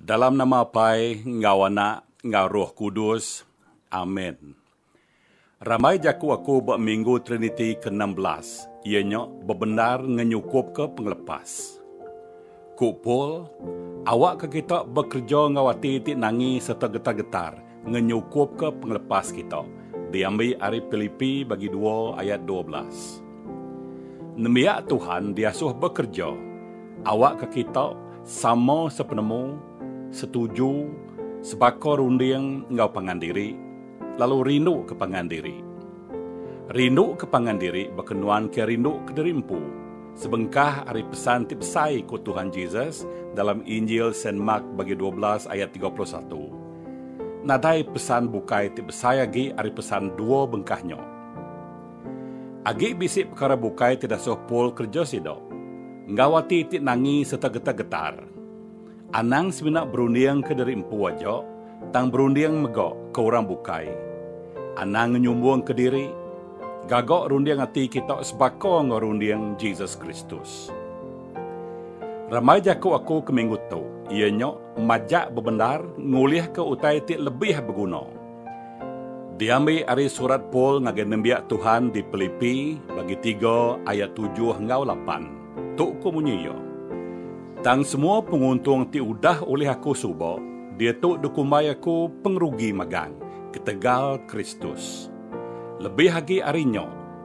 Dalam nama Apai enggau Anak enggau Roh Kudus. Amen. Rambai jaku aku ba Minggu Triniti ke enam belas iya nya bebendar ngenyukupka pengelepas. Ku Paul, Awakka kita bekereja enggau ati ti nangi sereta getar-getar, ngenyukupka pengelepas kita, diambi ari Pilipi bagi dua ayat dua belas. Nembiak Tuhan diasuh bekereja awakka kita sama sepenemu, setuju, sebaka runding enggau pangan diri, lalu rinduka pangan diri. Rinduka pangan diri baka nuan ke rindu kediri empu, sebengkah ari pesan ti besai ku Tuhan Jesus dalam Injil Saint Mark bagi dua belas ayat tiga puluh satu. Nadai pesan bukai ti besai agi ari pesan dua bengkah nya. Agi bisi pekara bukai ti dasuh Paul kereja sida, enggau ati ti nangi sereta getar-getar. Anang semina berundingka diri empu aja, tang berunding mega ke orang bukai. Anang ngenyumbungka diri, gaga runding ati kita sebaka enggau runding Jesus Kristus. Ramai jaku aku ke minggu tu iya nya majak bebendar ngulihka utai ti lebih beguna. Diambi ari surat Paul ngagai nembiak Tuhan di Pilipi bagi tiga ayat tujuh enggau lapan. Tu ku munyi iya, Tang semua penguntung ti udah ulih aku suba, diatu dikumbai aku pengerugi magang ketegal Kristus. Lebih agi ari nya,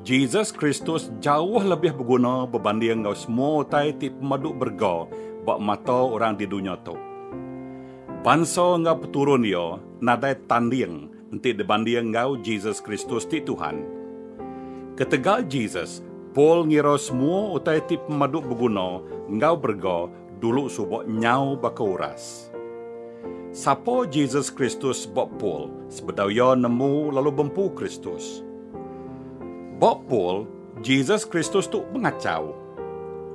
Jesus Kristus jauh lebih beguna bebanding enggau semua utai ti pemadu berega ba mata orang di dunya tu. Bansa enggau peturun Iya nadai tanding enti dibanding enggau Jesus Kristus ti Tuhan. Ketegal Jesus, Paul ngira semua utai ti pemadu beguna enggau berega Dulu suba nyau baka uras. Sapa Jesus Kristus ba Pul sebedau iya nemu lalu bempu Kristus? Ba Pul, Jesus Kristus tu pengachau.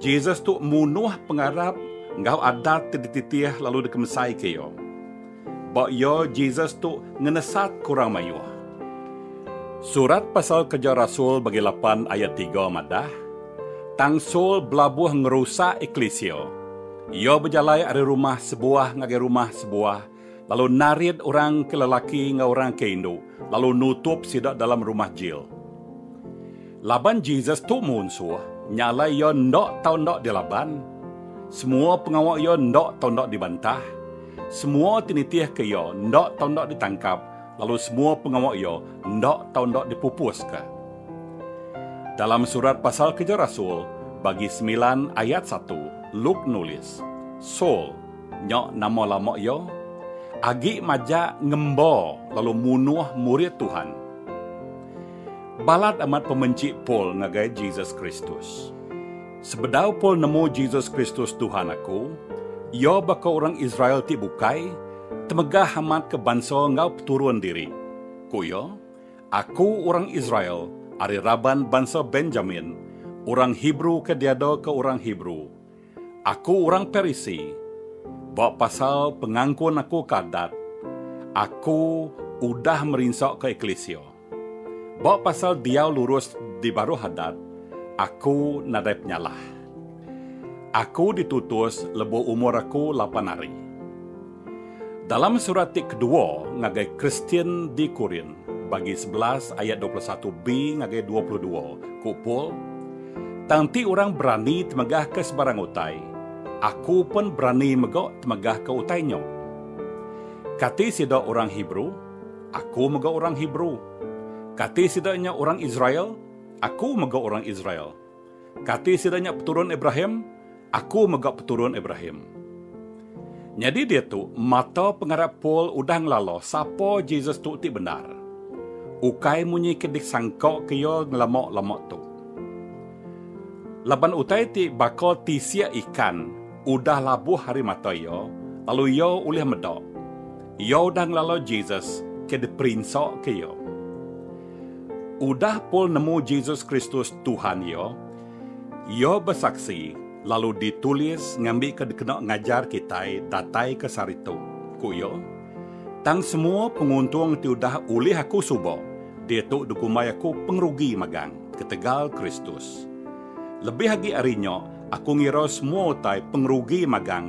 Jesus tu munuh pengarap enggau adat ti dititih lalu dikemsaika iya. Ba iya, Jesus tu ngenesatka orang mayuh. Surat pasal Kereja Rasul bagi lapan ayat tiga madah, Tang Saul belabuh ngerusak eklisia. Iya bejalai ari rumah sebuah ngagai rumah sebuah lalu narit orang ke lelaki enggau orang ke indu lalu nutup sida dalam rumah jil. Laban Jesus tu munsuh, nyalai iya enda tau enda dilaban. Semua pengawa iya enda tau enda dibantah. Semua ti nitihka iya enda tau enda ditangkap lalu semua pengawa iya enda tau enda dipupuska. Dalam surat pasal Keja Rasul, bagi semilan ayat satu, Luke nulis, Saul, nya nama lama iya, agi majak ngemba lalu munuh murid Tuhan. Balat amat pemenchik Paul ngagai Jesus Kristus. Sebedau Paul nemu Jesus Kristus Tuhan aku, iya baka orang Israel ti bukai, temegah amat ke bansa enggau peturun diri. Ku iya, Aku orang Israel ari raban bansa Benjamin, orang Hebrew ke diada ke orang Hebrew. Aku orang Parisi, ba pasal pengangkun aku ke Adat, aku udah merinsa ke eklisia. Ba pasal diau lurus di baruh hadat, aku nadai penyalah. Aku ditutus lebuh umur aku lapan hari. Dalam surat ti kedua ngagai Kristian di Korint, bagi sebelas ayat dua puluh satu b ngagai dua puluh dua, ku Paul, Tang enti orang berani temegahka sebarang utai, aku pen berani mega temegahka utai nya. Kati sida orang Hebrew? Aku mega orang Hebrew. Kati sida nya orang Israel? Aku mega orang Israel. Kati sida nya peturun Abraham? Aku mega peturun Abraham. Nyadi diatu, mata pengarap Paul udah ngelala sapa Jesus tu ti bendar. Ukai munyi ke disangkaka iya ngelama-lama tu. Laban utai ti baka tisik ikan udah labuh ari mata iya, lalu iya ulih meda. Iya udah ngelala Jesus ke diperinsa ke iya. Udah Paul nemu Jesus Kristus Tuhan iya, iya besaksi lalu ditulis ngambika dikena ngajar kitai datai ke sehari tu. Ku iya, Tang semua penguntung ti udah ulih aku suba, diatu dikumbai aku pengerugi magang ketegal Kristus. Lebih agi ari nya, aku ngira semua utai pengerugi magang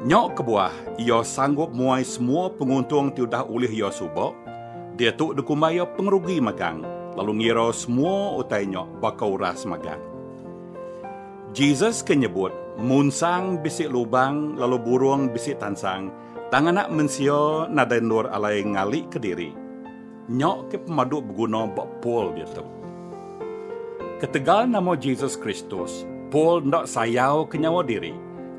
Nya kebuah, iya sanggup muai semua penguntung ti udah ulih iya suba, diatu dikumbai iya pengerugi magang, lalu ngira semua utai nya baka uras magang. Jesus ke nyebut, Munsang bisi lubang lalu burung bisi tansang, Tang Anak Mensia nadai endur alai ngalika diri. Nya ke pemadu beguna ba Paul diatu. Ketegal nama Jesus Kristus, Paul enda sayauka nyawa diri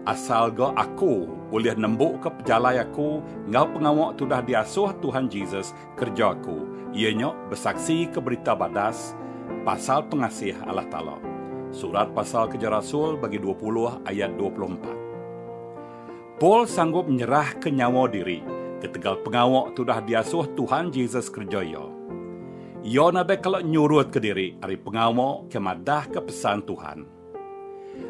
asal ga aku ulih nembuka pejalai aku enggau pengawa ti udah diasuh Tuhan Jesus kereja aku, iya nya besaksika Berita Badas pasal pengasih Allah Taala. Surat Pasal Keja Rasul bagi dua puluh ayat dua puluh empat. Paul sanggup nyerahka nyawa diri ketegal pengawa ti udah diasuh Tuhan Jesus kereja iya. Iya nadai kala nyurutka diri ari pengawa ke madahka pesan Tuhan.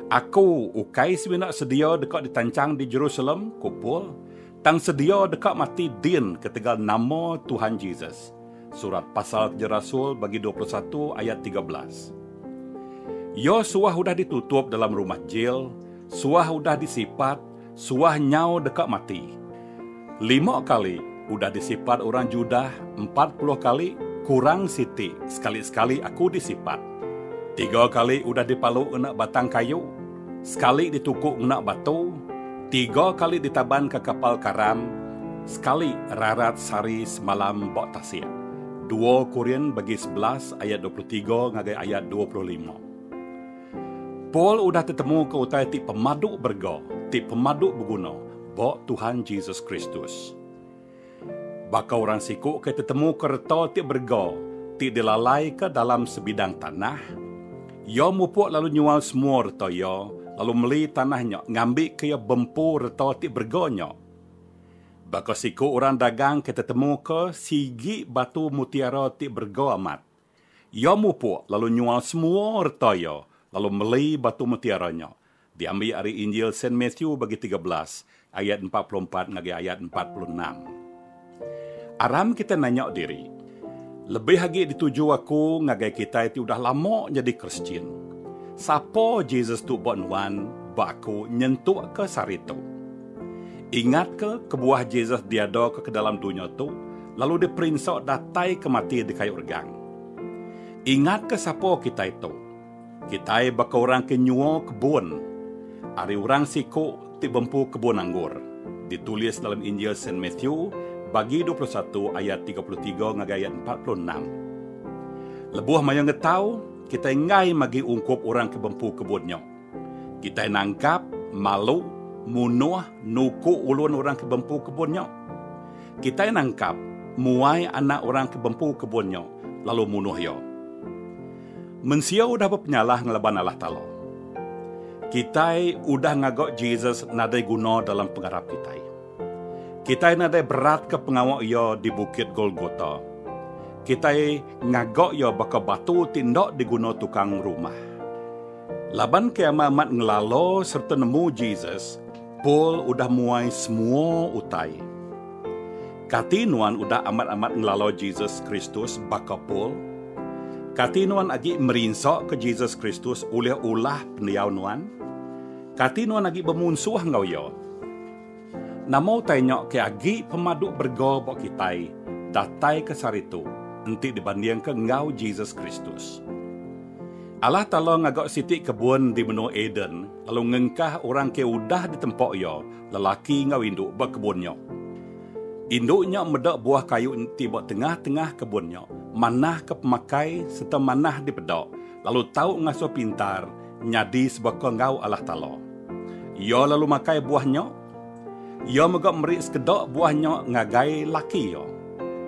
Aku ukai semina sedia deka ditanchang di Jerusalem, ku Paul, tang sedia deka mati din ketegal nama Tuhan Jesus. Surat Pasal Kerja Rasul bagi dua puluh satu ayat tiga belas. Iya suah udah ditutup dalam rumah jil, suah udah disipat, suah nyau deka mati. Lima kali udah disipat orang Judah, empat puluh kali kurang siti sekali-sekali aku disipat. Tiga kali udah dipalu ngena batang kayu. sekali dituku ngena batu, tiga kali ditaban ke kapal karam, sekali rarat sari semalam ba tasik. Dua Korin bagi sebelas ayat dua puluh tiga ngagai ayat dua puluh lima. Paul udah tetemu ke utai ti pemadu berega, ti pemadu beguna, ba Tuhan Jesus Kristus. Baka orang siku ke tetemuka reta ti berega ti dilalaika dalam sebidang tanah, iya mupuk lalu nyual semua reta iya lalu meli tanah nya ngambika iya bempu reta ti berega nya. Baka siku orang dagang ke tetemuka sigi batu mutiara ti berega amat, iya mupuk lalu nyual semua reta iya lalu meli batu mutiara nya Diambi ari Injil Saint Matthew bagi tiga belas ayat empat puluh empat ngagai ayat empat puluh enam. Aram kitai nanya diri, Lebih agi dituju aku ngagai kitai ti udah lama nyadi Kristian, sapa Jesus tu ba nuan ba aku nyentukka sari tu? Ingatka kebuah Jesus diadaka ke dalam dunya tu lalu diperinsa datai ke mati dikayu regang. Ingatka sapa kitai tu? Kitai baka orang ke nyua kebun ari orang siku ti bempu kebun anggur, ditulis dalam Injil Saint Matthew bagi dua puluh satu ayat tiga puluh tiga ngagai ayat empat puluh enam. Lebuh mayuh ngetau, kitai enggai magi ungkup orang ke bempu kebun nya. Kitai nangkap, malu, munuh, nuku ulun orang ke bempu kebun nya. Kitai nangkap, muai anak orang ke bempu kebun nya, lalu munuh iya. Mensia udah bepenyalah ngelaban Allah Taala. Kitai udah ngaga Jesus nadai guna dalam pengarap kitai. Kitai nadai beratka pengawa Iya di Bukit Golgota. Kitai ngaga Iya baka batu ti enda diguna tukang rumah. Laban kiamai amat ngelala sereta nemu Jesus, Paul udah muai semua utai. Kati nuan udah amat-amat ngelalau Jesus Kristus baka Paul? Kati nuan agi merinsaka Jesus Kristus ulih ulah pendiau nuan? Kati nuan agi bemunsuh enggau Iya? Nama utai nya ke agi pemadu berega ba kitai datai ke seharitu enti dibandingka enggau Jesus Kristus? Allah Taala ngaga siti kebun di menua Eden. lalu ngengkah orang ke udah ditempa iya, lelaki enggau indu ba kebun nya. Indu nya meda buah kayu ti ba tengah-tengah kebun nya, manahka pemakai sereta manah dipeda, lalu tau ngasuh pintar nyadi sebaka enggau Allah Taala. Iya lalu makai buah nya. Iya mega meri sekeda buah nya ngagai laki iya.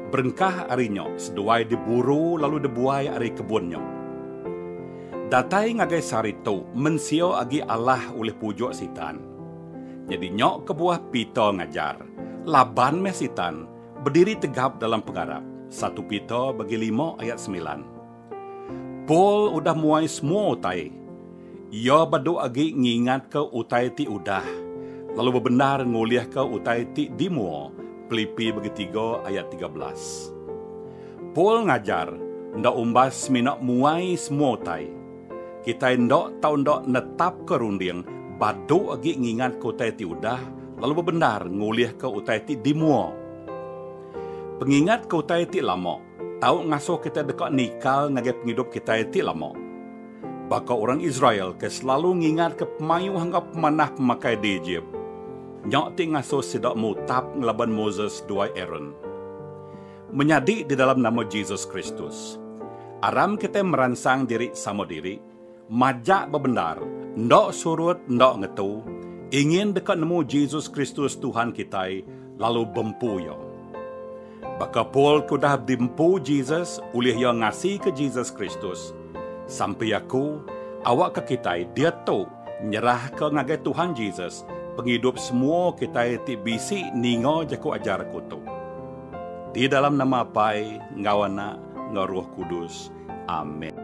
Berengkah ari nya, seduai diburu lalu dibuai ari kebun nya. Datai ngagai sehari tu, mensia agi alah ulih pujuk Sitan. Nyadi nya kebuah Peter ngajar, laban meh Sitan bediri tegap dalam pengarap, satu Peter bagi lima ayat semilan. Paul udah muai semua utai. Iya badu agi ngingatka utai ti udah, lalu bebendar ngulihka utai ti di mua, Pelipi bagi tiga ayat tiga belas. Paul ngajar enda umbas semina muai semua utai. Kitai enda tau enda netapka runding badu agi ngingatka utai ti udah lalu bebendar ngulihka utai ti di mua. Pengingatka utai ti lama. tau ngasuh kitai deka nikal ngagai pengidup kitai ti lama. Baka orang Israel ke selalu ngingatka pemayuh enggau pemanah pemakai di Ejip, nya ti ngasuh sida mutap ngelaban Moses duai Aron. Menyadi di dalam nama Jesus Kristus, aram kitai meransang diri sama diri. Majak bebendar, enda surut enda ngetu, ingin deka nemu Jesus Kristus Tuhan kitai lalu bempu Iya. Baka Paul ke udah diempu Jesus ulih iya ngasika Jesus Kristus, sampi aku awakka kitai diatu nyerahka ngagai Tuhan Jesus pengidup semua kitai ti bisi ninga jaku ajar aku tu. Di dalam nama Apai enggau Anak enggau Roh Kudus. Amen.